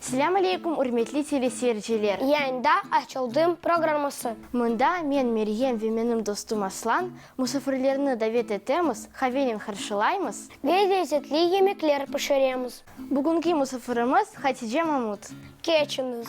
Selâm aleykum, ürmetli teleseyirciler! Yayında Açıldım programması. Mında men, Meryem, ve menim dostum Aslan, musafirlerni davet etemiz, qavenen qarşılaymız. Ve lezzetli yemekler pişiremiz. Bugünki musafirimiz Hatice Mamut. Keçiñiz!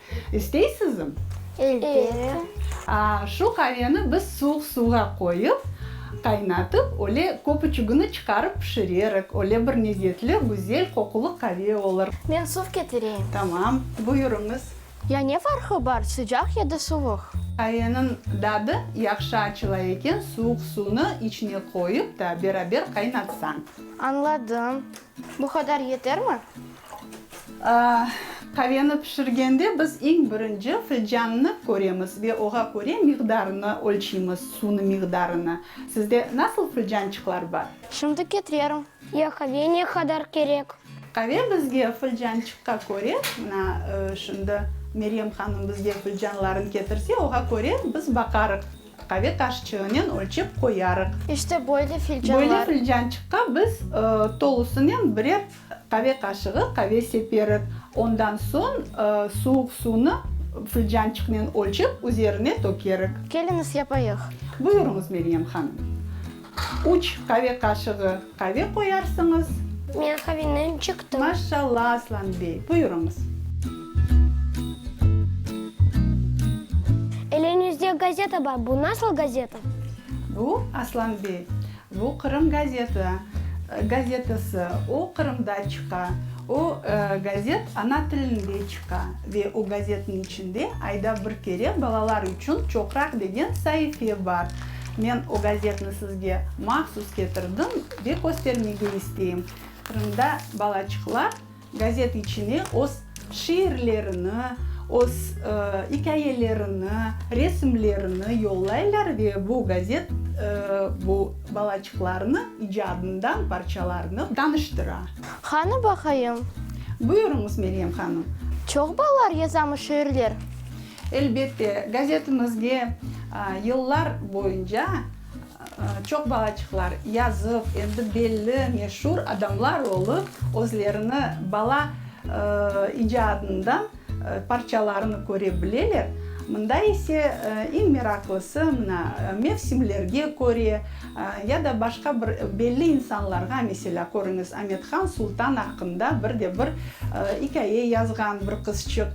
İsteysizmi? Elbette. Şu qaveni biz suvuq suvğa qoyıp, qaynatıp, öyle köpüçügini çıqarıp pişirerik, öyle bir lezetli, güzel qoqulı qave olur. Men suv ketireyim. Tamam, buyurıñız. Ya ne farqı bar, sıcaq ya da suvuq? Qaveniñ dadı yahşı açıla eken, suvuq suvnı içine qoyıp da beraber qaynatsañ. Añladım. Bu qadar yetermi? Qaveni pişirgende biz eñ birinci filcannı köremiz ve oğa köre miqdarını ölçeymiz, suvnı miqdarını. Sizde nasıl filcançıqlar bar? Şimdi ketirerim. Ya qave ne qadar kerek? Qave bizge filcançıqqa köre, mına, şimdi Meryem hanım bizge filcanların ketirse, oğa köre biz baqarıq. Qave taşçığınen ölçep qoyarıq. İşte böyle filcanlar. Böyle filcançıqqa biz tolusınen birer qave qaşığı qave seperik. Ondan soñ suvuq suvnı filcançıqnen ölçep üzerine tökerik. Keliñiz, yapayıq. Buyurıñız, Meryem hanım. Üç qave qaşığı qave qoyarsıñız. Men qavenen çıqtım. Maşşalla, Aslan bey! Buyurıñız. Eliñizde gazeta bar, bu nasıl gazeta? Bu, Aslan bey, bu Qırım gazeta, gazetası. O, Qırımda çıqa. O, gazet ana tilinde çıqa. Ve o gazetniñ içinde ayda bir kere balalar içün çoqraq degen saife bar. Men o gazetni sizge mahsus ketirdim ve köstermege isteyim. Qırımda balaçıqlar gazet içine öz şiirlerini, öz ikâyelerini, resimlerini yollaylar ve bu gazet bu balaçıqlarnı icadından parçalarnı tanıştıra. Qanı baqayım. Buyurıñız, Meryem hanım. Çoq balalar yazamı şiirler? Elbette, gazetimizge yıllar boyunca çoq balaçıqlar yazıp, endi belli, meşur adamlar olıp, özlerini bala icadından parçalarını köre bileler. Mında ise eñ meraqlısı, mına, mevsimlerge köre ya da başqa bir belli insanlarğa, meselâ, körüñiz, Amethan Sultan aqqında bir de bir ikâye yazğan bir qızçıq,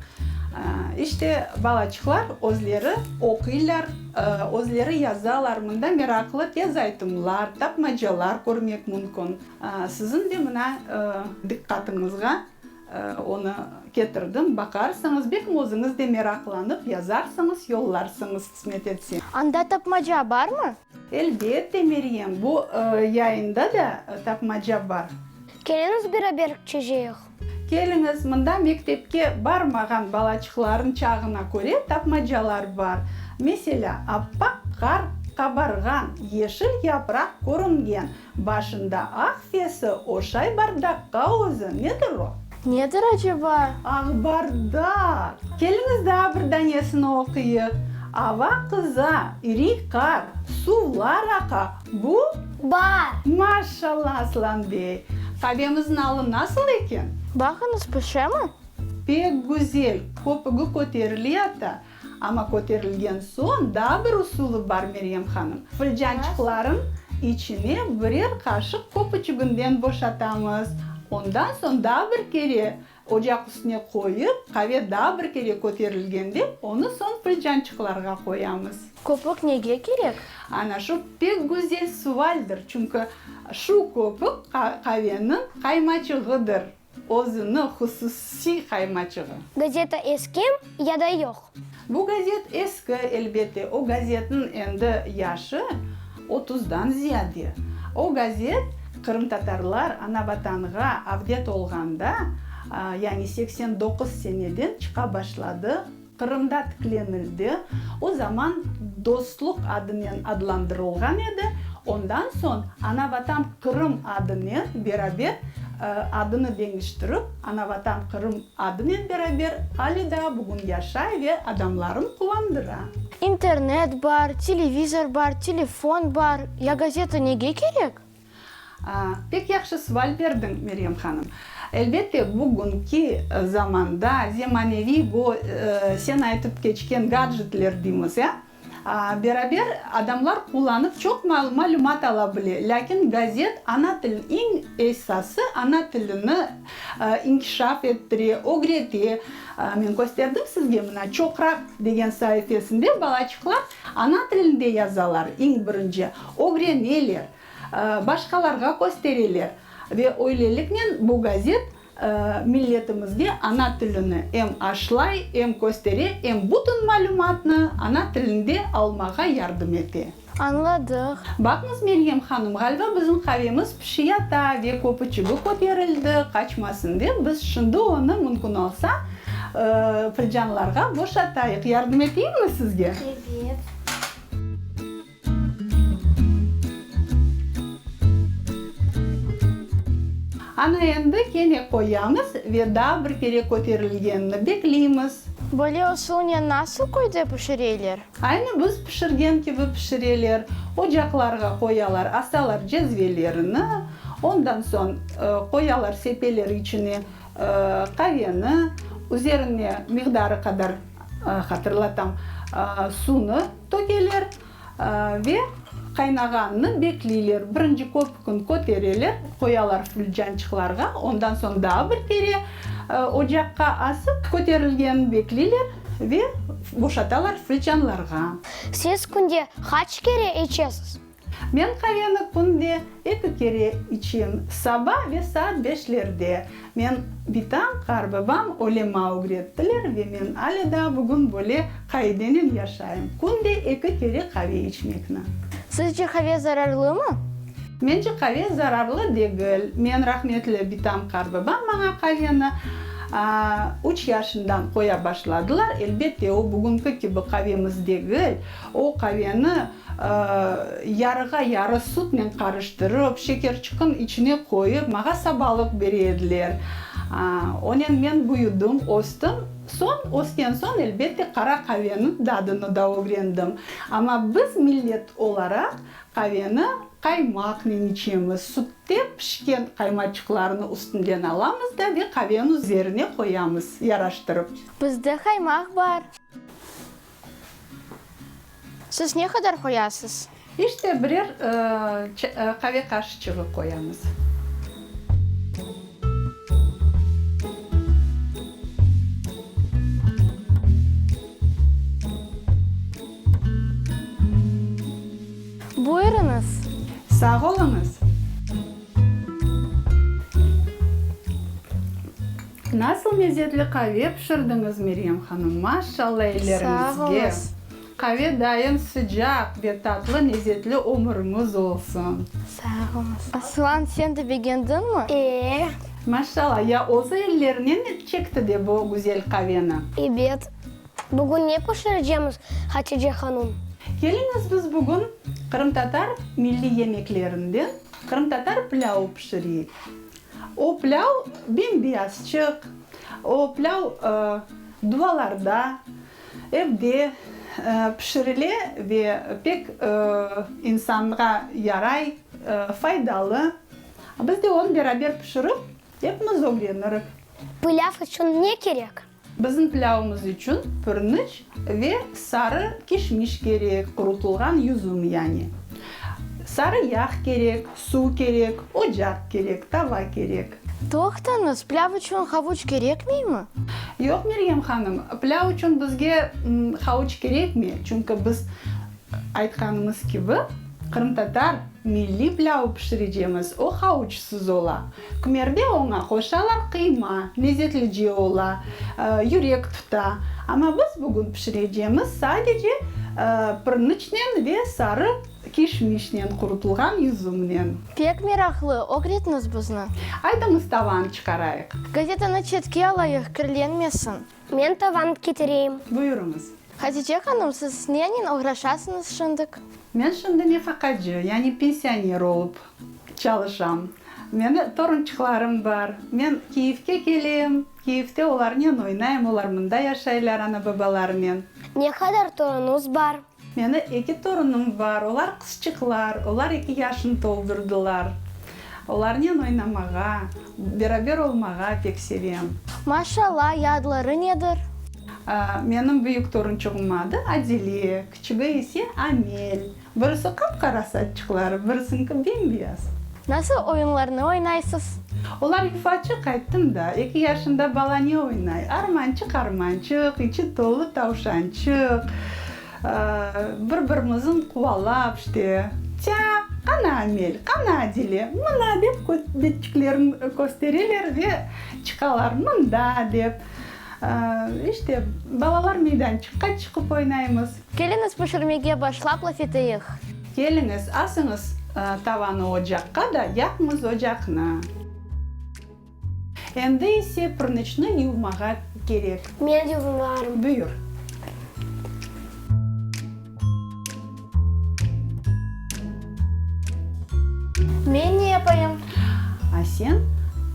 İşte, balaçıqlar özleri oquylar, özleri yazalar. Mında meraqlı tez aytımlar, tapmacalar körmek mümkün. Siziñ de mına diqqatıñızğa onı ketirdim, baqarsıñız, belki özüñiz de meraqlanıp yazarsıñız, yollarsıñız, qısmet etse. Anda tapmaca barmı? Elbette, Meryem, bu yayında da tapmaca bar. Keliñiz, beraber çejeyiq. Keliñiz, mında mektepke barmağan balaçıqlarnıñ çağına köre tapmacalar bar. Meselâ, appaq qar qabarğan, yeşil yapraq körüngen, başında aq sesi oşay bardaqqa özü, nedir o? Nedir aceba? Ağbardaq! Keliñiz daa bir danesini oquyıq. Ava qıza, iriy qar, suvlar aqa, Bu? Bar. Maşallah, Aslan bey! Qavemiz nalı nasıl eken? Baqıñız, pişemi? Pek güzel, köpügi köterile ata. Amma köterilgen soñ daa bir usulı bar, Meryem hanım. Fılcançıqlarnıñ içine birer qaşıq köpüçüginden boşatamız. Ondan soñ daa bir kere Ocaq üstüne qoyıp, qave daa bir kere köterilgende, onı soñ qıycançıqlarğa qoyamız. Köpük nege kerek? Ana şu pek güzel suvaldir, çünki şu köpük qaveniñ qaymaçığıdır, özüniñ hususiy qaymaçığı. Gazeta eskem ya da yoq? Bu gazet eski, elbette, o gazetniñ endi yaşı otuzdan ziyade. O gazet qırımtatarlar Anavatanğa avdet olğanda, yani seksen doquz seneden çıqa başladı, Qırımda tiklenildi, o zaman Dostluq adınen adlandırılğan edi, ondan soñ Anavatan-Qırım adınen beraber adını deñiştirip Anavatan-Qırım Adınen beraber ale daa bugün yaşay ve adamlarını quvandıra. İnternet bar, televizor bar, telefon bar, ya gazeta nege kerek? Pek yahşı suval berdiñ, Meryem hanım. Elbette, bugünki zamanda zemaneviy bu sen aytıp keçken gadjetler deymiz, ya, Beraber adamlar qullanıp çoq malümat ala bile, lâkin gazet ana til, iñ esası ana tilini inkişaf ettire, ögrete. Men kösterdim sizge, mına Çoqraq degen saifesinde balaçıqlar ana tilinde yazalar, iñ birinci, ögreneler, başqalarğa köstereler. Ve öyleliknen bu gazet Milletimizge ana tilini em aşlay, em köstere, em bütün malümatnı ana tilinde almağa yardım ete. Añladıq. Baqıñız, Meryem hanım, ğaliba bizim qavemiz pişi yata ve köpü çibi köterildi, qaçmasın dep, biz şimdi onı mümkün olsa filcanlarğa boşatayıq. Yardım eteyimmi sizge? Ebet. Ana endi kene qoyamız ve daa bir kere köterilgenini bekleymiz. Böyle usulnen nasıl köyde pişireler? Aynı biz pişirgen kibi pişireler. Ocaqlarğa qoyalar, asalar cezvelerini, ondan soñ qoyalar sepeler içine qaveni, üzerine miqdarı qadar, hatırlatam, suvnı. Tökeler ve qaynağannı bekleyler. Birinci köpükün kötereler, qoyalar fülcançıqlarğa, ondan soñ daa bir kere ocaqqa asıp, köterilgenini bekleyler ve boşatalar fülcanlarğa. Siz künde qaç kere içesiz? Men qaveni künde eki kere içim, saba ve saat beşlerde. Men bitam, qarıbabam öyle ma ögrettiler ve men ale daa bugün böyle qaidenen yaşayım, künde eki kere qave içmekni. Sizce qave zararlımı? Mence qave zararlı degil. Men rahmetli bitam, qarıbabam maña qaveni üç yaşından qoya başladılar. Elbette, o bugünki kibi qavemiz degil. O qaveni Yarığa yarı sütnen qarıştırıp, şekerçiqin içine qoyıp, mağa sabalıq bere ediler. Onen men büyüdim, östüm. Soñ, ösken soñ, elbette, qara qaveniñ dadını da ögrendim. Amma biz, millet olaraq, qaveni qaymaqnen içemiz. Sütte pişken qaymaçıqlarnı üstünden alamız da ve qaveni üzerine qoyamız, yaraştırıp. Bizde qaymaq bar. Siz ne qadar qoyasız? İşte birer qave qaşıçığı qoyamız. Buyurıñız. Sağ oluñız. Nasıl mezetli qave pişirdiñiz, Meryem hanım! Maşşalla elleriñizge! Qave daim sıcaq ve tatlı mezetli ömüriñiz olsun! Sağ olunız! Aslan, sen de begendiñmi? Ee. Maşşalla! Ya özü ellerinen çekti de bu güzel qaveni? Ebet. Bugün ne pişireceğimiz, Hatice hanım? Keliñiz, biz bugün qırımtatar milliy yemeklerinden qırımtatar pilâvı pişireyik. O plâv bem-beyaz çık, o plâv duvalarda, evde pişirile ve pek insanğa yaray, faydalı. Biz de onı beraber pişirip, epimiz ögrenirik. Plâv içün ne kerek? Bizim pilâvımız içün pürniç ve sarı kişmiş kerek, qurutılğan yüzüm yani. Sarı yağ kerek, suv kerek, ocaq kerek, tava kerek. Toqtañız, pilâv içün havuç kerekmeymi? Yoq, Meryem hanım, pilâv içün bizge havuç kerekmey, çünki biz, aytqanımız kibi, qırımtatar milliy pilâvı pişirecemiz, o havuçsız ola. Kmerde oña qoşalar qıyma, lezetli cı ola, yürek tuta. Amma biz bugün pişirecemiz sadece pırnıçnen ve sarı kişmişnen qurutılğan üzümnen. Pek meraqlı, ögretniz bizni. Aytıñız, tavanı çıqarayıq. Gazetanı çetke alayıq, kirlenmesin. Men tavan ketireyim. Buyurıñız. Hatice hanım, siz nennen oğraşasıñız şındık? Men şimdi nefaqacı, yani pensioner olıp çalışam. Meni torunçıqlarım bar. Men Kiyevge kelem, Kiyevde olarnen oynayım, olar mında yaşaylar ana-babalarınen. Ne qadar torunuñız bar? Meni eki torunım bar, olar qızçıqlar, olar eki yaşnı toldurdılar. Olarnen oynamağa, beraber olmağa pek sevem. Maşalâ, ya adları nedir? Menim büyük torunçuğım adı Adile, küçügi ise Amel. Birisi qap-qara saççıqları, birisiñki bem-beyaz. Nasıl oyunlarnı oynaysız? Olar ifaçı qayttım da, eki yaşında bala ne oynay? Armançıq, armançıq, içi tolu tavşançıq, bir birimizin quvalap, işte, tya, qana Amel, qana Adile, mına, dep betçiklerin köstereler ve çıqalar, mında, dep, işte, balalar meydançıqqa çıqıp oynaymız. Keliñiz, pişirmege başlap laf eteyik. Keliñiz, asıñız tavanı ocaqqa da yaqıñız ocaqnı. Endi ise pırnıçnı yuvmağa kerek. Men yuvularım. Buyur. Men ne yapayım? A sen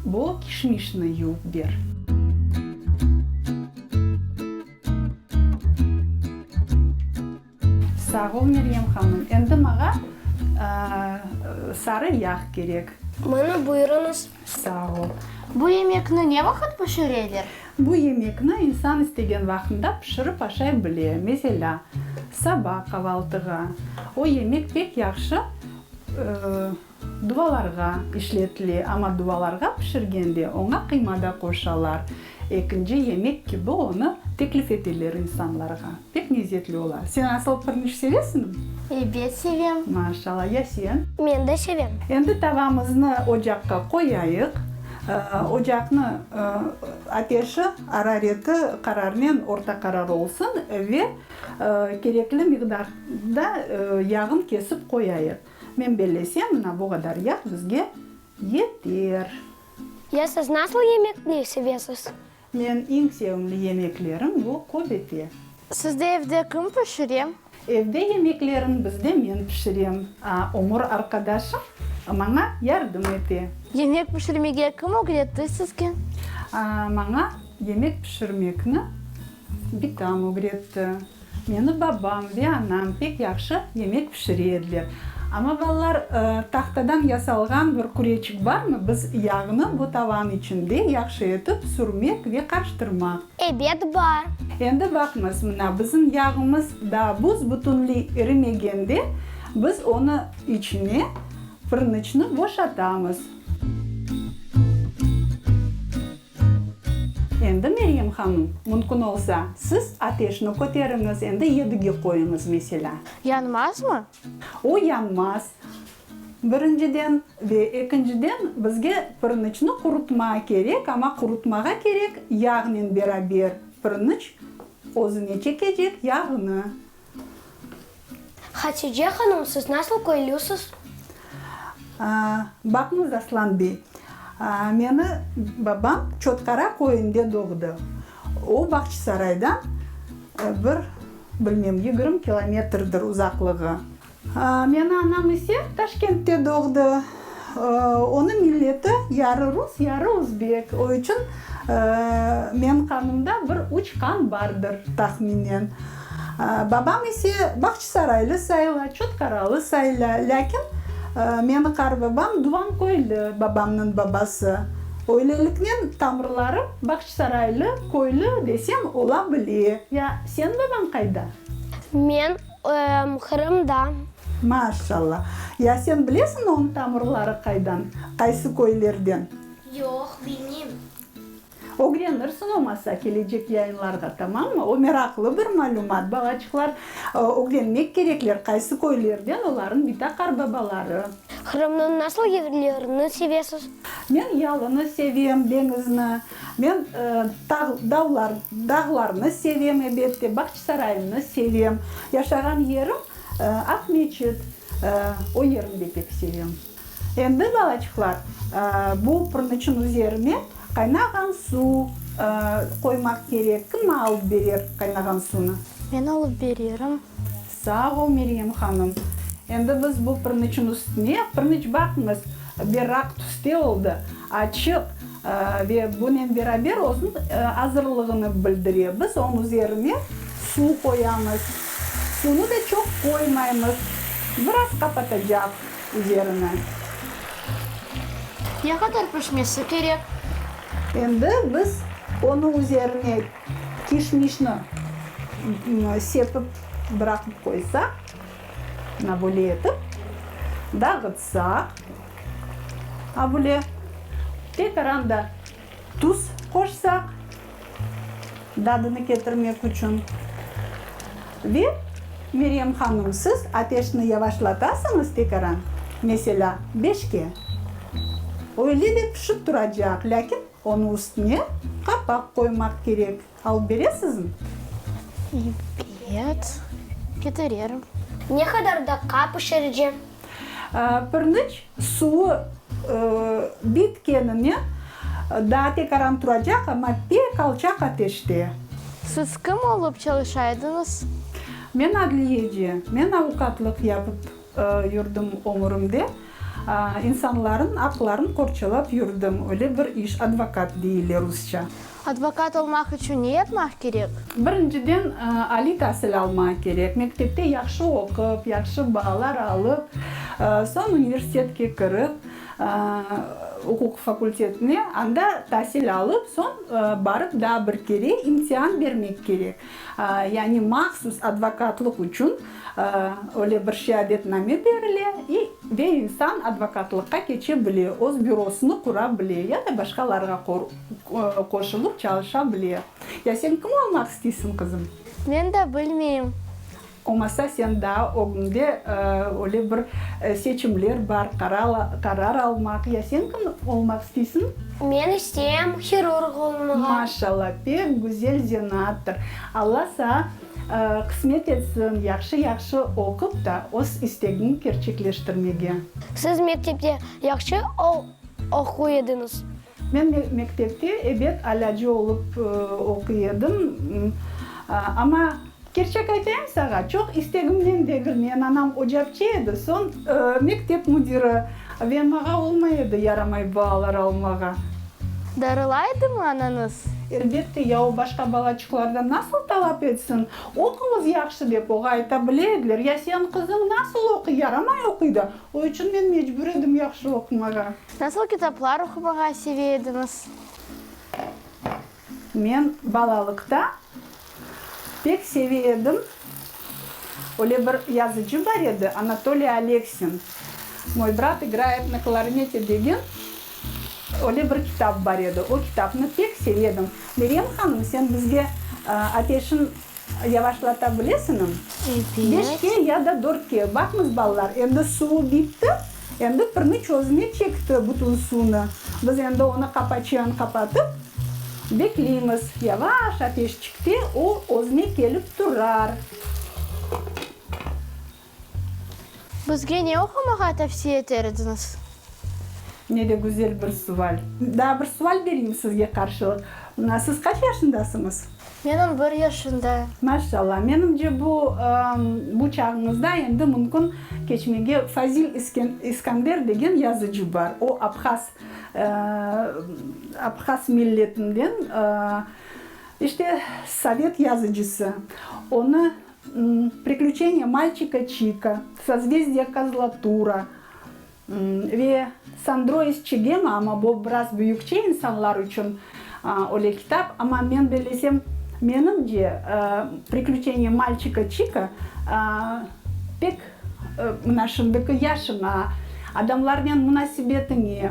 bu kişmişni yuvıp ber. Sağ ol, Meryem hanım. Endi mağa sarı yağ kerek. Mına, buyurıñız. Sağ ol. Bu yemekni ne vaqıt pişireler? Bu yemekni insan istegen vaqında pişirip aşay bile. Meselâ, saba qavaltığa. O yemek pek yahşı Duvalarğa işletile, amma duvalarğa pişirgende oña qıyma da qoşalar. Ekinci yemek kibi onı teklif eteler insanlarğa. Pek lezzetli ola. Sen asıl pirinç sevesiñmi? Ebet, sevem. Maşallah. Ya sen? Men de sevem. Endi tavamıznı ocaqqa qoyayıq. Ocaqnı ateşi, arareti qararnen orta qarar olsun ve kerekli miqdarda yağın kesip qoyayıq. Men bellesem, mına bu qadar yağ bizge yeter. Ya siz nasıl yemekni sevesiz? Men iñ sevimli yemeklerim bu köbete. Sizde evde kim pişire? Evde yemeklerin bizde men pişirem, a ömür arqadaşım maña yardım ete. Yemek pişirmege kim ögretti sizge? Maña yemek pişirmekni Bitam ögretti. Meni babam ve anam pek yahşı yemek pişire ediler. Amma, balalar, tahtadan yasalğan bir küreçik barmı, biz yağnı bu tavanı içinde yahşı etip sürmek ve qarıştırmaq. Ebet, bar. Endi baqıñız, mına, bizim yağımız daa buz bütünley erimegende, biz onı içine pırnıçnı boşatamız. Endi, Meryem hanım, mümkün olsa, siz ateşni köteriñiz, endi yedigi qoyuñız, meselâ. Yanmazmı? O yanmaz, birinciden. Ve ekinciden, bizge pirinçni qurutma kerek, amma qurutmağa kerek yağnen beraber pirinç özüne çekecek yağnı. Hatice hanım, siz nasıl köylüsiz? Baqıñız, Aslan bey, meni babam Çotqara köyünde doğdı. O, Bağçısaraydan bir, bilmem, yigirmi kilometrdir uzaqlığı. Meni anam ise Taşkentte doğdı. Onı milleti yarı rus, yarı özbek. O içün men qanımda bir üç qan bardır, tahminen. Babam ise Bağçısaraylı sayıla, Çotkaralı sayıla, lâkin meni qarvabam Duvanköylü, babamnıñ babası. Öyleliknen tamırlarım Bağçısaraylı, Köylü desem ola bile. Ya sen babañ qayda? Men Qırımda. Maşalla! Ya sen bilesiñ oñ tamırları qaydan, qaysı köylerden? Yoq, bilmeyim. Ögrenirsiñ olmasa kelecek yayınlarğa, tamammı? O meraqlı bir malümat, balaçıqlar. Ögrenmek kerekler, qaysı köylerden olarnıñ bitaqar babaları. Qırımnıñ nasıl yevlerini sevesiz? Men yalını sevem, deñizni. Men dağlar, dağlarnı sevem, ebette, Bağçasaraynı sevem. Yaşağan yerim, Aqmeçit, o yerini de pek sevem. Endi, balaçıqlar, bu pırnıçnıñ üzerine qaynağan suv qoymaq kerek. Kim alıp berer qaynağan suvnı? Men alıp bererim. Sağ ol, Meryem hanım. Endi biz bu pırnıçnıñ üstüne pırnıç baqıñız, berrak tüste oldı, açıq ve bunen beraber özüniñ azırlığını bildire. Biz onıñ üzerine suv qoyamız. Suvnı da çoq qoymaymız, biraz qapatacaq üzerini. Ne qadar pişmesi kerek? Endi biz onıñ üzerine Kişmişni sepip bıraqıp qoysaq, mına böyle etip dağıtsaq, a bule tekaran da tuz qoşsaq, dadını ketirmek içün, ve Meryem hanım, siz ateşni yavaşlatasıñız tekaran, meselâ, beşke, öyle de pişip turacaq, lâkin Onı üstüne qapaq qoymaq kerek. Alıp beresizmi? Ebet, betirerim. Ne qadar daqqa pişircem? Pirniç suvı bitkenine daa tekaran turacaq, amma pek alçaq ateşte. Siz kim olıp çalışaydıñız? Men adliyeci, men avukatlıq yapıp. Yurdım ömürimde insanların aqların qorçalap yurdım, öyle bir iş, advokat deyile rusça. Advokat olmaq içün ne yapmaq kerek? Birinciden aliy tasil almaq kerek, mektepte yahşı oqup, yahşı baalar alıp, soñ universitetke kirip, uquq fakultetine, anda tasil alıp, soñ barıp daa bir kere imtian bermek kerek, yani mahsus advokatlıq içün. Öyle bir şeadetname berile ve insan advokatlıqqa keçe bile, öz bürosını qura bile ya da başqalarğa qoşulıp çalışa bile. Ya sen kim olmaq isteysiñ, qızım? Men de bilmeyim. Olmasa sen daa ögüñde öyle bir seçimler bar, qarar almaq. Ya sen kim olmaq isteysiñ? Men isteyem hirurg olmağa. Maşallah, pek güzel zenattır. Alla sağa. Qısmet etsin, yahşı-yahşı oqup da, öz istegiñ kerçekleştirmege. Siz mektepte yahşı oquy ediñiz? Men mektepte, ebet, alâcı olıp oquy edim. Amma, kerçek aytayım sağa, çoq istegimnen degil, men anam ocapçı edi, soñ mektep müdiri, ve mağa olmay edi yaramay baalar almağa. Darılaydımı anañız? Elbette, ya o başqa balaçıqlardan nasıl talap etsin? Oquñız yahşı dep oğa ayta bile ediler, ya señ qızıñ nasıl oquy, yaramay oquy da, o içün men mecbur edim yahşı oqumağa. Nasıl kitaplar oqumağa seve ediñiz? Men balalıqta Pek sevi edim. Öyle bir yazıcı bar edi, Anatoliy Aleksin, Moj brat igrayet na klarnete degen öyle bir kitap bar edi. O kitapnı pek sevi edim. Meryem hanım, sen bizge ateşin yavaşlata bilesinim? Beşke ya da dörtke. Baqmız, balalar, endi suvu bitti. Endi pirni çözüme çekti bütün suvnı. Biz endi onı qapaçıan qapatıp, bekleymiz. Yavaş ateşçikte o özüne kelip turar. Bizge ne oqumağa tavsiye eter ediñiz? Ne de güzel bir sual. Daa bir sual bereyim sizge qarşılıq. Siz qaç yaşındasıñız? Menim bir yaşında. Maşallah, menimce bu, bu çağıñızda endi mümkün keçmege Fazil İskanber degen yazıcı bar. O abhaz, abhaz milletinden, işte, sovet yazıcısı. Onı Priklüçeniye malçika Çika, Sozvezdiye Kozlotura, Ve Sandro iz çigemi, amma bu biraz büyükçe insanlar içün öyle kitap. Amma men bellesem, menimce, Priklüçeniye malçika Çika pek mına şimdiki yaşıña, adamlarnen munasebetiñe,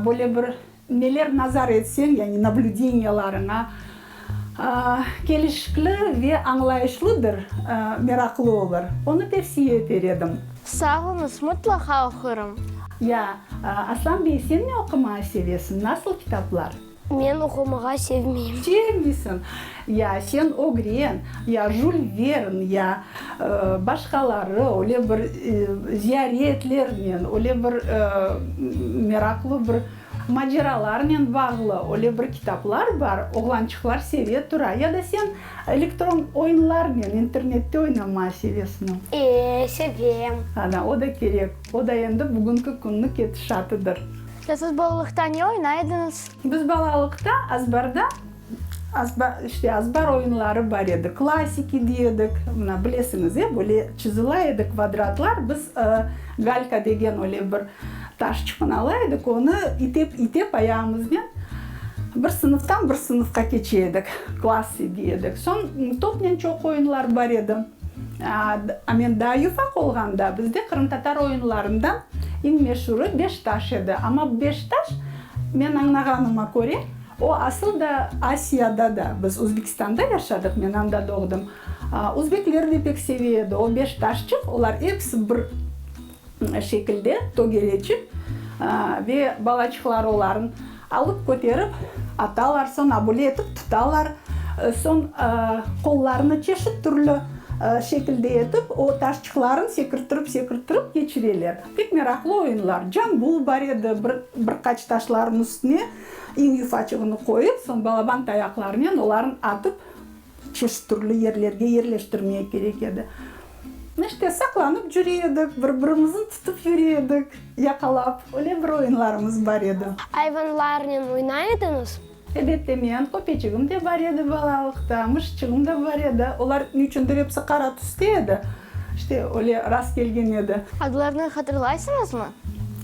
böyle bir, Neler nazar etseñ, yani nablüdeniyalarıña kelişikli ve añlayışlıdır, meraqlı olur, onı tevsiye eter edim. Sağ olıñız, mutlaqa oqurım. Ya, Arslan bey, sen ne oqumağa sevesiñ, nasıl kitaplar? Men oqumağa sevmeyim. Sevmeysiñ. Ya sen ögren, ya Jul Vern, ya başqaları öyle bir ziyaretlernen, öyle bir meraqlı bir maceralarnen bağlı öyle bir kitaplar bar, oğlançıqlar seve tura. Ya da sen elektron oyunlarnen internette oynamağa sevesmi? E, sevem. Ana, o da kerek. O da endi bugünki künniñ ketişatıdır. Ya siz balalıqta ne oynaydınız? Biz balalıqta azbarda İşte, azbar oyunları bar edi, klasiki dey edik, mına, bilesiñiz, e, böyle çizila edi kvadratlar, biz galka degen öyle bir taş çupun ala edik, onı itep, itep ayağımıznen bir sınıftan bir sınıfqa keçe edik, klassi dey edik. Soñ topnen çoq oyunlar bar edi. Men daa yufaq olğanda, bizde qırımtatar oyunlarından eñ meşurı beş taş edi. Amma beş taş, men añlağanıma köre, O, asıl da, Asiyada da. Biz Özbekistanda yaşadıq, men anda doğdım. Özbekler de pek seve edi. O beş taşçıq, olar episi bir şekilde, tögeleçik, ve balaçıqları oların alıp köterip atalar, soñ abule etip tutalar, soñ qollarını çeşit türlü şekilde etip o taşçıqlarını sekirttirip-sekirttirip keçireler. Pek meraqlı oyunlar. Cambul bar edi, bir qaç taşlarnıñ üstüne. İñ yufaçığını qoyıp, soñ balaban tayaqlarınen olarnı atıp, çeşit türlü yerlerge yerleştirmek kerek edi. İşte, saqlanıp cüre edik, bir-birimizni tutıp yüre edik, yaqalap. Öyle bir oyunlarımız bar edi. Ayvanlarnen oynay ediñiz? Elbette, men, köpeçigim de bar edi balalıqta, muşçığım da bar edi. Olar, niyçündir, episi qara tüste edi. İşte, öyle rast kelgen edi. Adlarını hatırlaysıñızmı?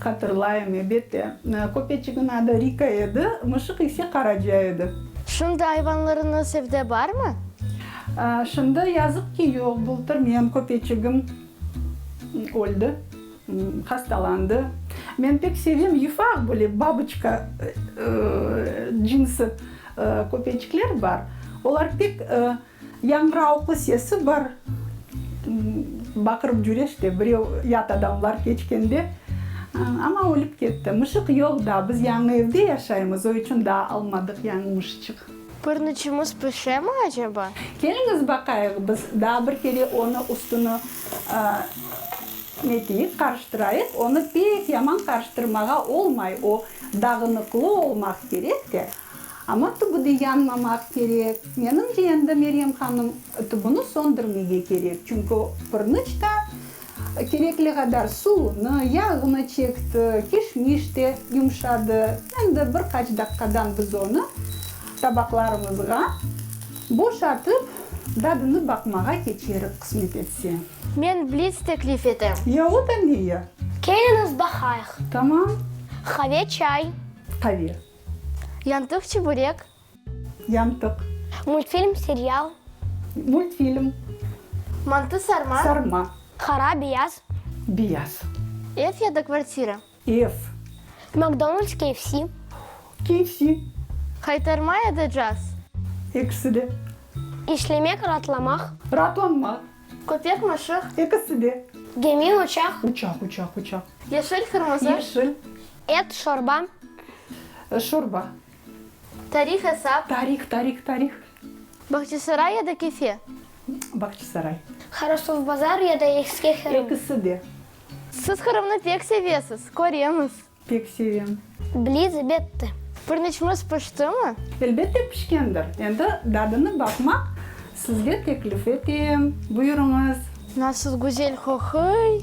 Hatırlayım, ebette. Köpeçigiñ adı Rika edi, mışıq ise Qaraca edi. Şimdi ayvanlarıñız evde barmı? Şimdi, yazıq ki, yoq. Bultır menim köpeçigim öldi, hastalandı. Men pek sevem yufaq, böyle baboçka cinsi köpeçikler bar. Olar pek. Yañğıravıqlı sesi bar, baqırıp cüre işte, birev, yat adamlar keçkende. Amma ölip ketti. Mışıq yoq daa, biz yañı evde yaşaymız, o içün daa almadıq yañı mışçıq. Pırnıçımız pişemi aceba? Keliñiz baqayıq, biz daa bir kere onı üstüni neteyik, qarıştırayıq. Onı pek yaman qarıştırmağa olmay, o dağınıqlı olmaq kerek de. Amma tübüde yanmamaq kerek. Menimce, endi Meryem hanım tübüni söndürmege kerek, çünki pırnıç da kerekli qadar suvunı, yağını çekti, kişmiş de yumşadı. Endi bir qaç daqqadan biz onı tabaqlarımızğa boşatıp, dadını baqmağa keçerik, qısmet etse. Men blits teklif etem. Ya, o da ne ya? Keliñiz baqayıq. Tamam. Qave, çay? Qave. Yantıq, çuburek. Yantıq. Multfilm, serial. Multfilm. Mantı, sarma. Sarma. Qara, beyaz. Beyaz. Ev ya da kvartira. Ev. McDonald's, KFC. KFC. Qaytarma ya da caz. Ekisi de. İşlemek, raatlamaq. Raatlanmaq. Köpek, mışıq. Ekisi de. Gemi, uçaq. Uçaq, uçaq, uçaq. Yeşil, qırmızı. Yeşil. Et, şorba. Şorba. Tarih, esap. Tarih, tarih, tarih. Bağçasaray ya da Kefe. Bağçasaray. Harasovbazar ya da Eski Qırım. Ekisi de. Siz Qırımnı pek sevesiz, köremiz. Pek sevem. Blitz betti. Pırnıçımız piştimi? Elbette pişkendir. Endi dadına baqmaq sizge teklif etem. Buyurıñız. Nasıl güzel qoquy!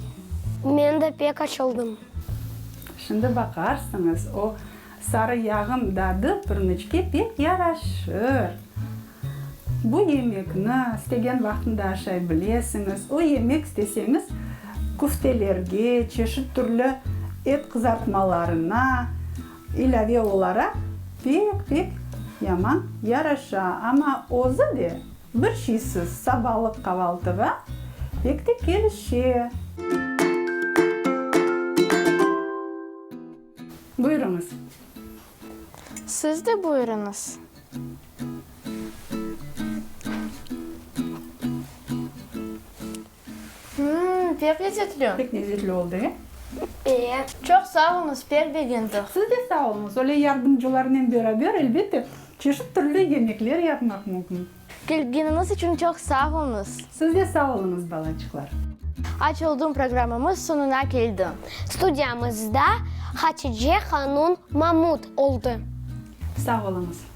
Men de pek açıldım. Şimdi baqarsıñız. O sarı yağım dadı pırnıçke pek yaraşır. Bu yemekni istegen vaqtında aşay bilesiñiz. O yemek isteseñiz küftelerge, çeşit türlü et qızartmalarına ilâve olaraq pek-pek yaman yaraşa. Amma özü de bir şeysiz sabalıq qavaltığa pek de kelişe. Buyurıñız, Siz de buyurıñız. Hımm, pek lezzetli. Pek lezzetli oldı, e? Eee. Çoq sağ oluñız, pek begendiq. Siz de sağ oluñız. Öyle yardımcılarnen beraber, elbette, çeşit türlü yemekler yapmaq mümkün. Kelgeniñiz içün çoq sağ olunız. Siz de sağ olunız, balaçıqlar. Aç oldum programımız soñuna keldi. Studiyamızda Hatice hanun Mamut oldı. Sağ oluñız.